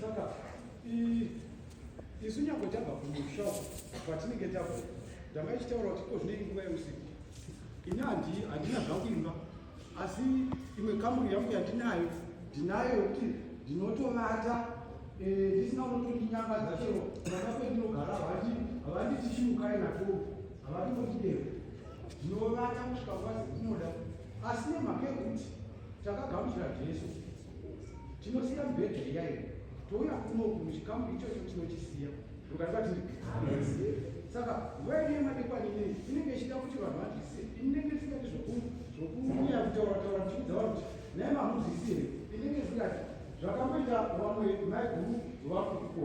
saka isu nyangwe tabva kumusha patinenge tabva ndanga ichitaura kuti ko zvinei nguva yeusiku ini handina zvakuimba asi imwe kamuri yangu yandinayo ndinayo kuti ndinotovata eh, ndisina unotondinyanga dzachero vana kwendinogara havanditichimukai nako havandikotidero Ndinovata kusvika kwazi kunoda asi nemhaka yekuti takagamuchira Jesu tinosiya mibhedha iyayi touya kuno kuchikamu ichocho tinochisiya ndokati saka nguva ine madekwana ine inenge ichida kuti vanhu vazvise inenge isingati zvokuuya kutaura taura ndichiudza vanhu kuti naye mamuzvisi here inenge isingati zvakamboita vamwe maiguru vakuko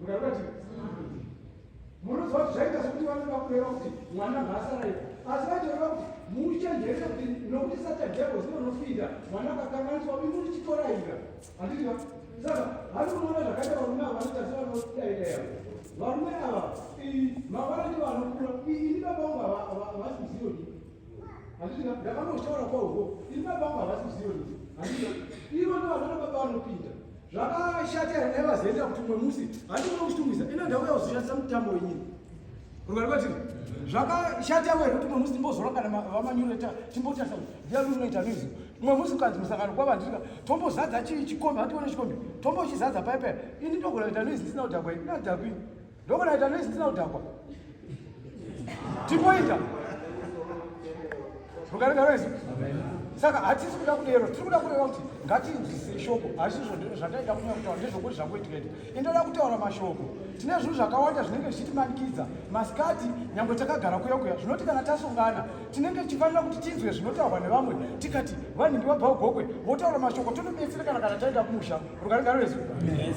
Unaona ti? Munozo zvaita kuti vanoda kureva kuti mwana ngaasaraye. Asi vatoreva kuti muchenjere kuti nokuti sata devil zvinonofida mwana akakanganiswa uyu muri chitoraira. Handiti va? Saka vanoona zvakaita varume ava vanoita sevanodaida yavo. Varume ava mavara ndivo anokura. Ini baba vangu havasi muzivo ndi. Handiti va? Ndakanotaura kwauko. Ini baba vangu havasi muzivo ndi. Handiti va? Ivo ndivo vanoda baba vanopinda. zvakashata here naiva zienda kuti mwe musi handiona kuchitumwisa ino ndauya kuzoshandisa mutambo wenyini rungari kwatiri zvakashata here kuti mwe musi timbozora kana vamanyureta timbotarisa kuti ndiani unoita music mwe musi ukanzi musangano kwavandirika tombozadza chikombi hatione chikombi tombochizadza paipera ini ndogona kuita noise ndisina kudhakwa ini ndadhakwini Ndokona ita noise tina udakwa. Tipoita. Mukarega noise. Saka hatisi kuda kudero, tiri kuda kureva kuti ngatinzwisise shoko. Hazvisi zvataida kunyanya kutaura ndezvokuti zvangoitika ende. Indoda kutaura mashoko. Tine zvinhu zvakawanda zvinenge zvichitimanikidza. Masikati nyangwe takagara kuya kuya zvinoti kana tasungana tinenge tichifanira kuti tinzwe zvinotaurwa nevamwe tikati vanhingi vabva ugokwe votaura mashoko tonobetserekana kana taenda kumusha. Rukarega noise. Yes.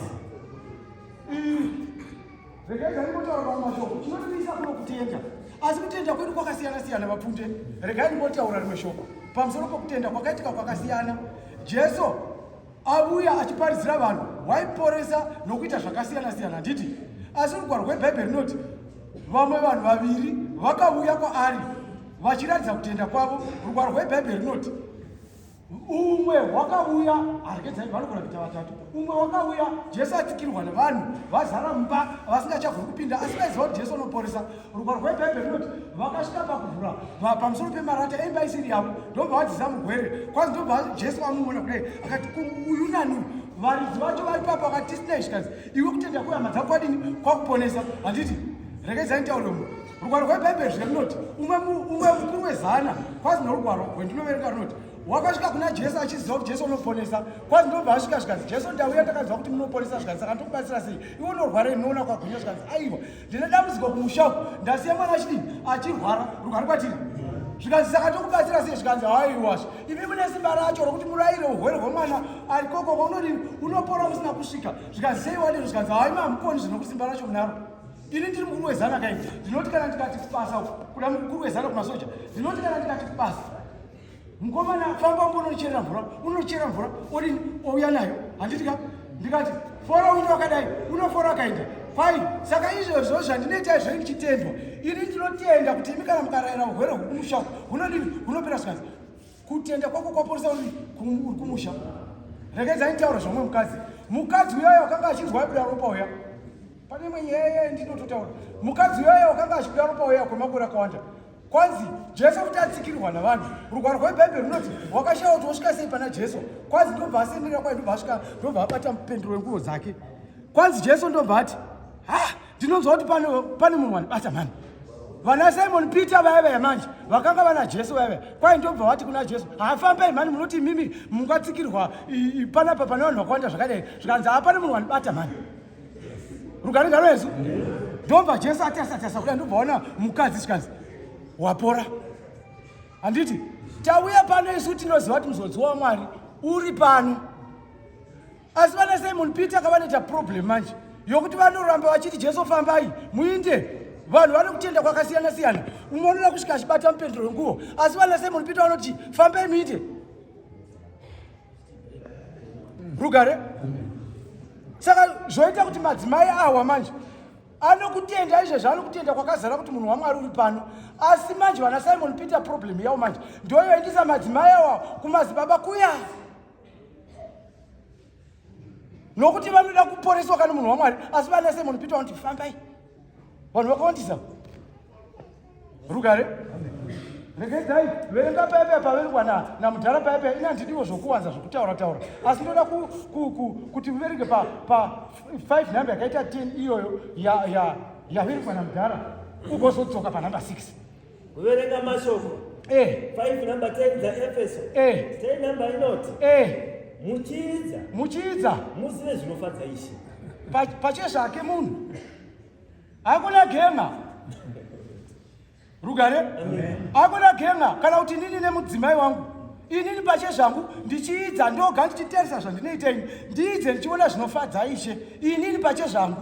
regai ndingotaura mamwe mashoko chinondiisa kuno kutenda asi kutenda kwedu kwakasiyana siyana vapfute regai ndingotaura rimwe shoko pamusoro pokutenda kwakaitika kwakasiyana jesu avuya achiparidzira vanhu waiporesa nokuita zvakasiyana siyana handiti asi rugwaro rwebhaibheri rinoti vamwe vanhu vaviri vakavuya kwaari vachiratidza kutenda kwavo rugwaro rwebhaibheri rinoti umwe wakauya aregedzai vanogona kuita vatatu umwe wakauya jesu atsikirwa nevanhu vazara mumba vasingachagoni kupinda asi vaiziva kuti jesu unoporesa rugwaro rwebhaibheri runoti vakasvika pakuvhura pamusoro pemarata emba isiri yavo ndobva vadzisa mugwere kwanzi ndobva jesu vamumona kudai akati uyu nani varidzi vacho vari papa vakati tisina izvikazi iwe kutenda kwehama dzakwadini kwakuponesa handiti regedzai nitaure mu rugwaro rwebhaibheri zvika rinoti umwe mukuru wezana kwazi norugwaro rwendinoverenga rinoti wakasvika kuna jesu achiziva kuti jesu unoponesa kwazi ndobva asvika zvikanzi jesu ndauya ndakaziva kuti munoponesa zvikanzi saka ndokubatsira sei iwe unorwara inoona kwagwinya zvikanzi aiwa ndine dambudziko kumushaku ndasiya mwana achidii achirwara rugwaro kwatiri zvikanzi saka ndokubatsira sei zvikanzi haiwasha imi mune simba racho rokuti murayire urwere hwemwana ari kokoko unodii unopora usina kusvika zvikanzi sei wadiro zvikanzi haima hamuponi zvinokusimba racho munaro ini ndiri mukuru wezana kai ndinoti kana ndikati kubasa kuda mukuru wezana kumasoja ndinoti kana ndikati kubasa mukomana famba unge unocherera mvura unocherera mvura odini ouya nayo handiti ka ndikati fora uno wakadai unofora wakaenda fai saka izvozvo zvandinoita izvo ndichitendwa ini ndinotenda kuti imi kana mukarayira urwere hwekumusha hunodini hunopera sikazi kutenda kwako kwaporesa uri kumusha rekedza nitaura zvamwe mukadzi mukadzi uyoyo akanga achinzwa abuda ropa uya Pane imwe nyaya iya yandinototaura, mukadzi uyaya wakanga achikuda ropa uya kwemakore akawanda kwanzi jesu kuti atsikirwa navanhu rugwaro rwebhaibheri runoti wakashaya kuti wosvika sei pana jesu kwanzi ndobva asendera kwaye ndobva asvika ndobva abata mupendero wenguvo dzake kwanzi jesu ndobva ati ha ndinonzwa kuti pane munhu wanibata mhani vana simon peter vaya vaya manje vakanga vana jesu vaya vaya kwaye ndobva vati kuna jesu hafambai mhani munoti imimi mungatsikirwa panapa pane vanhu vakawanda zvakadai zvikanzi hapane munhu wanibata mhani rugare ngaro yesu ndobva jesu ati asatasa kuda ndobva ona mukadzi chikanzi wapora handiti tauya pano isu tinoziva kuti muzodziwa wamwari uri pano asi vana simon peter kavanoita problem manje yokuti vanoramba vachiti jesu fambai muinde vanhu vanokutenda kwakasiyana siyana umwe unoda kusvika achibata mupendero wenguvo asi vana simon peter vanoti fambai muinde rugare saka zvoita kuti madzimai awa manje anokutenda izvezvi anokutenda kwakazara kuti munhu wamwari uri pano asi manje vana simon peter problem yawo manje ndoyoendisa madzimai awa kumazibaba kuya nokuti vanoda kuporeswa kana munhu wamwari asi vana simon peter vanoti fambai vanhu vakawandisa rugare regedzai verenga paipe paverengwa namudhara paipe ini handidiwo zvokuwanza zvokutaura taura asi ndoda kuti muverenge pa5 number yakaita 10 iyoyo yaverengwa namudhara ugozodzoka panumber 6 Kuverenga mashoko. Eh. 5 number 10 za Efeso. Eh. Stay number inoti. Eh. Muchiidza. Muchiidza. Muzive zvinofadza Ishe. Pa pache zvake munhu. Hakuna genga. Rugare? Amen. Hakuna genga kana kuti nini nemudzimai wangu. Inini pache zvangu ndichiidza ndoga ndichiteresa zvandinoita ini. Ndiidze ndichiona zvinofadza Ishe. Inini pache zvangu.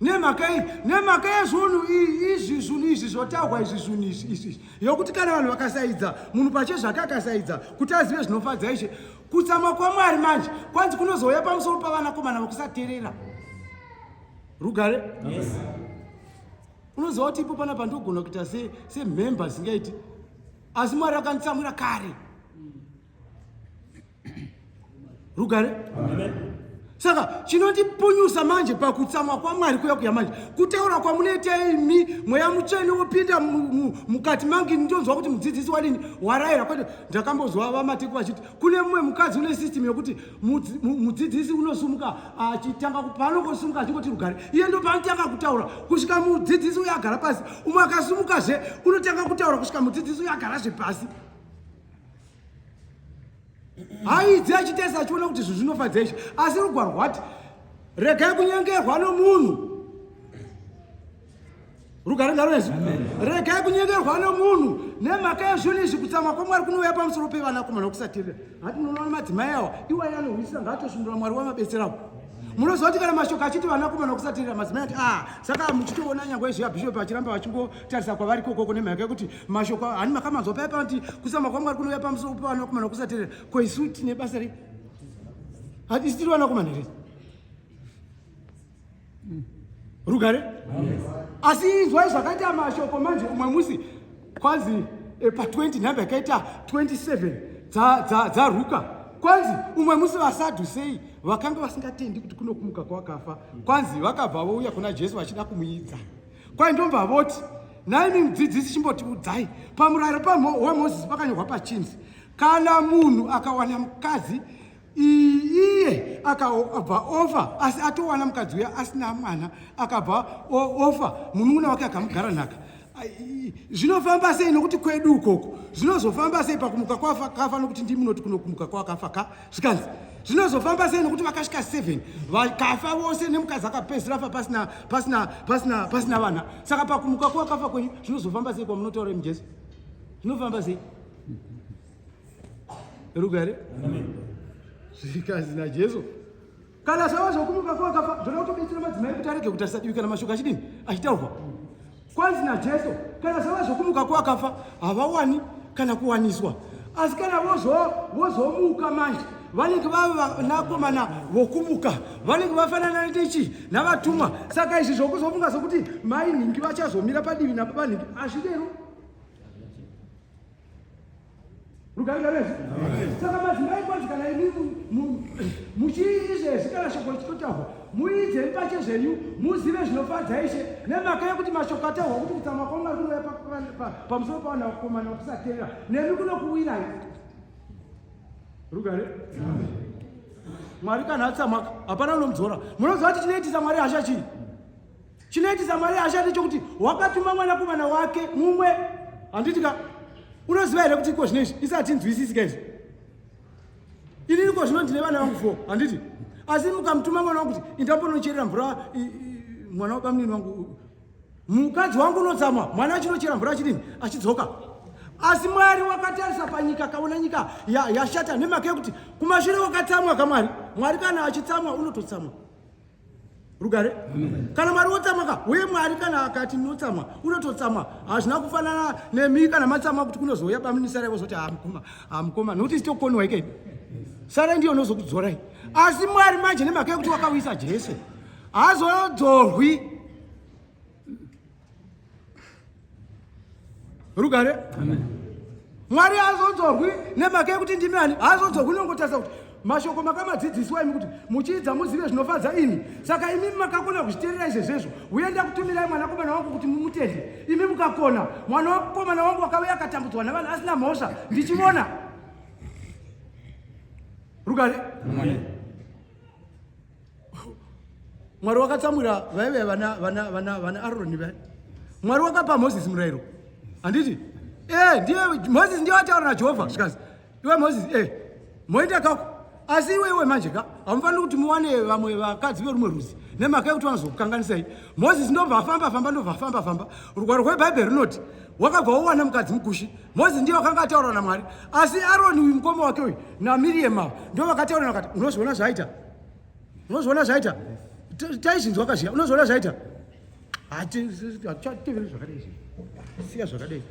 nemhaka yei nemhaka yezvunhu izvi zvunhu izvi zvotaurwa izvi zvunhu izvi izvi yokuti kana vanhu vakasaidza munhu pache zvake akasaidza kuti azive zvinofadza ishe kutsamwa kwamwari manje kwanzi kunozouya pamusoro pavanakomana vakusaterera rugare yes. unoziva kuti ipo panapa ndogona kuita semhemba singaiti asi mwari akanditsamwira kare rugare saka chinondipunyusa manje pakutsamwa kwamwari kuya kuya manje kutaura kwamunoita imi mweya mutsvene wopinda mukati mangu ini ndonzwa kuti mudzidzisi wadini warayira kwete ndakambozwa vamateko vachiti kune mumwe mukadzi une system yokuti mudzidzisi unosumuka achitanga paanongosumuka achingoti rugare iye ndo paanotanga kutaura kusvika mudzidzisi uyo agara pasi umwe akasumukazve unotanga kutaura kusvika mudzidzisi uyo agarazve pasi haidzi achitesa achiona kuti zvinhu zvinofadza izvi asi rugwaro rwati regai kunyengerwa nomunhu rugare ngaroezi regai kunyengerwa nomunhu nemhaka yezvinhu izvi kutsamwa kwamwari kunouya pamusoro pevanakomana kusatirira hati munoona madzimai awa iwai anohwisisa ngaatosundura mwari wamabetserawo munoziva kuti kana mashoko achiti vanakomana kusatirira madzimai ati a ah, saka muchitoona nyangwe izvi abhishopi vachiramba vachingotarisa kwavari kokoko nemhaka yekuti mashoko hani makamanzwa paya panoti kusama kwangu ari kunouya pamusoro pevanakomana kusaterera ko isu tine basa rei hatisi tiri vanakomana here rugare asi inzwai zvakaita mashoko manje umwe musi kwanzi eh, pa 20 nhamba yakaita 27 dzaruka kwanzi umwe musi vasadhu sei vakanga vasingatendi kuti kunokumuka kwakafa kwanzi vakabva vouya kuna jesu vachida kumuidza Kwai ndomva voti naimi mudzidzisi chimbotiudzai pamuraro wamozisi pakanyorwa pachinzi kana munhu akawana mukadzi iye akabva ofa asi atowana mukadzi uya asina mwana akabva ofa munun'una wake akamugara nhaka zvinofamba sei nokuti kwedu ukoko zvinozofamba sei pakumuka kwakafa nokuti ndimunoti kunokumuka kwakafa ka zvikanzi zvinozofamba sei nokuti vakasvika 7 vakafa vose nemukadzi akapedzisira fa pasina pasina pasina pasina vana saka pakumuka kwakafa kwenyu zvinozofamba sei kwamunotaura imi jesu zvinofamba sei rugare zvikanzi najesu kana zvava zvokumuka kwakafa zvoda kutobetsera madzimai kuti arege kutarisa divi kana mashoko achidini achitaurwa kwanzi najesu kana zvava zvokumuka kwakafa havawani kana kuwaniswa asi kana vozomuka manje vanenge vavanakomana vokumuka vanenge vafanana netichi navatumwa saka izvi zvokuzofunga sokuti mai nhingi vachazomira padivi nababanhingi hazvidero Rugarika resu. Saka madzimai kwanzi kana imi muchiiti zvezvi kana shoko richitotaurwa muite mpache zvenyu muzive zvinofadza ishe nemhaka yekuti mashoko ataurwa kuti kutsamwa kwangu ari kunouya pamusoro pavana vakomana vakusateerera nemi kunokuwirai. Rugare. Mwari kana atsamwa hapana unomudzora. Munoziva kuti chinoitisa Mwari hasha chii? Chinoitisa Mwari ashande chokuti wakatuma mwanakomana wake mumwe handiti ka unoziva here kuti iko zvino izvi isatinzwisisi ka izvi ini iko zvino ndine vana vangu fo handiti asi mukamutuma mwana wangu kuti indaponocherera mvura mwana wabamnini wangu mukadzi wangu unotsamwa mwana achinochera mvura achidini achidzoka asi mwari wakatarisa panyika kaona nyika yashata ya nemhaka yekuti kumashure wakatsamwa kamwari mwari kana achitsamwa unototsamwa rugare kana mwari wotsamwaka uye mwari kana akati ndinotsamwa unototsamwa hazvina kufanana nemi kana matsamwa kuti kunozouya baminisara ivozoti hamukoma hamukoma nokuti sitokoniwa ikei sara ndiyo nozokudzorai asi mwari manje nemhaka yekuti wakauyisa jese hazodzorwi rugare mwari azodzorwi nemhaka yekuti ndimi ani azodzorwi unongotarisa kuti mashoko makamadzidziswa imi kuti muchiidza muzive zvinofadza imi saka imi makakona kuzviterera izvezvezvo uye ndakutumirai mwanakomana wangu kuti mumutende imi mukakona mwana wakomana wangu wakauya akatambudzwa navanhu asina mhosva ndichivona rugare mwari wakatsamwira vaive vana vana vana vana aroni vaya mwari wakapa moses murayiro handiti e ndiye moses ndiye wataura najehovha zvikazi iwe moses e moenda kako asi iwe iwe manje ka hamufaniri kuti muwane vamwe vakadzi verumwe rudzi nemhaka yekuti vanozokukanganisai moses ndobva afamba famba ndobva afamba famba rugwaro rwebhaibheri runoti wakabva wowana mukadzi mukushi moses ndiye wakanga ataura namwari asi aroni uyu mukoma wake uyu namiriyema ndo vakataura vakati unozoona zvaaita unozviona zvaita taizvinzwa kazviya unozviona zvaita hatichateverei zvakadai izvi siya zvakadai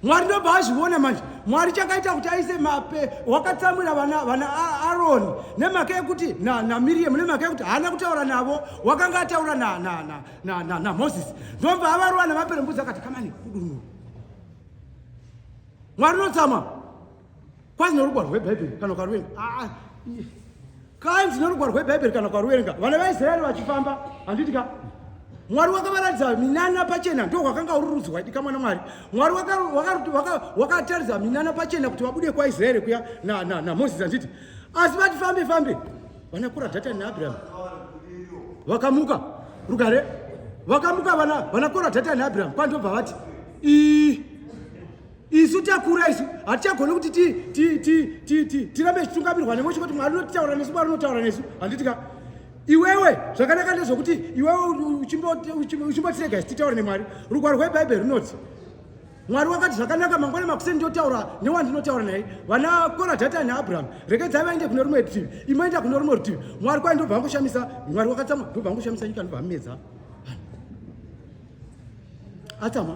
mwari ndobva azviona manje mwari chakaita kuti aise mape wakatsamwira vana vana aroni nemhaka yekuti namiriamu nemhaka yekuti haana kutaura navo wakanga ataura namoses ndobva avarova nemaperembudzi akati kamani kudunura mwari unotsamwa kwanzi norugwaro rwebhaibheri kana ukaruvenga ah, kanzi norugwaro rwebhaibheri kana ukaruvenga vana vaisraeri vachifamba handiti ka mwari wakavaratidza minana pachena ndo hwakanga uri rudzi hwaidika mwana mwari mwari wakataridza minana pachena kuti vabude kwaisraeri kuya namoses handiti asi vati fambe fambe vanakura dhatani naabraham vakamuka rugare vakamuka vana vanakora dhatani naabraham pandobva vati ii isu takura isu hatichagoni kuti tirambe tichitungamirwa nemwe chikoti mwari unotaura nesu mwari unotaura nesu handiti ka iwewe zvakanaka ndezvokuti iwewe uchimbotirega isu titaure nemwari rugwaro rwebhaibheri runoti mwari wakati zvakanaka mangwana makuseni ndotaura newandinotaura naye vana kora dhatani naabrahamu rekedzai vaende kune rumwe rutivi imoenda kune rumwe rutivi mwari kwai ndobva angoshamisa mwari wakatsamwa ndobva angoshamisa nyika ndobva amedza atsamwa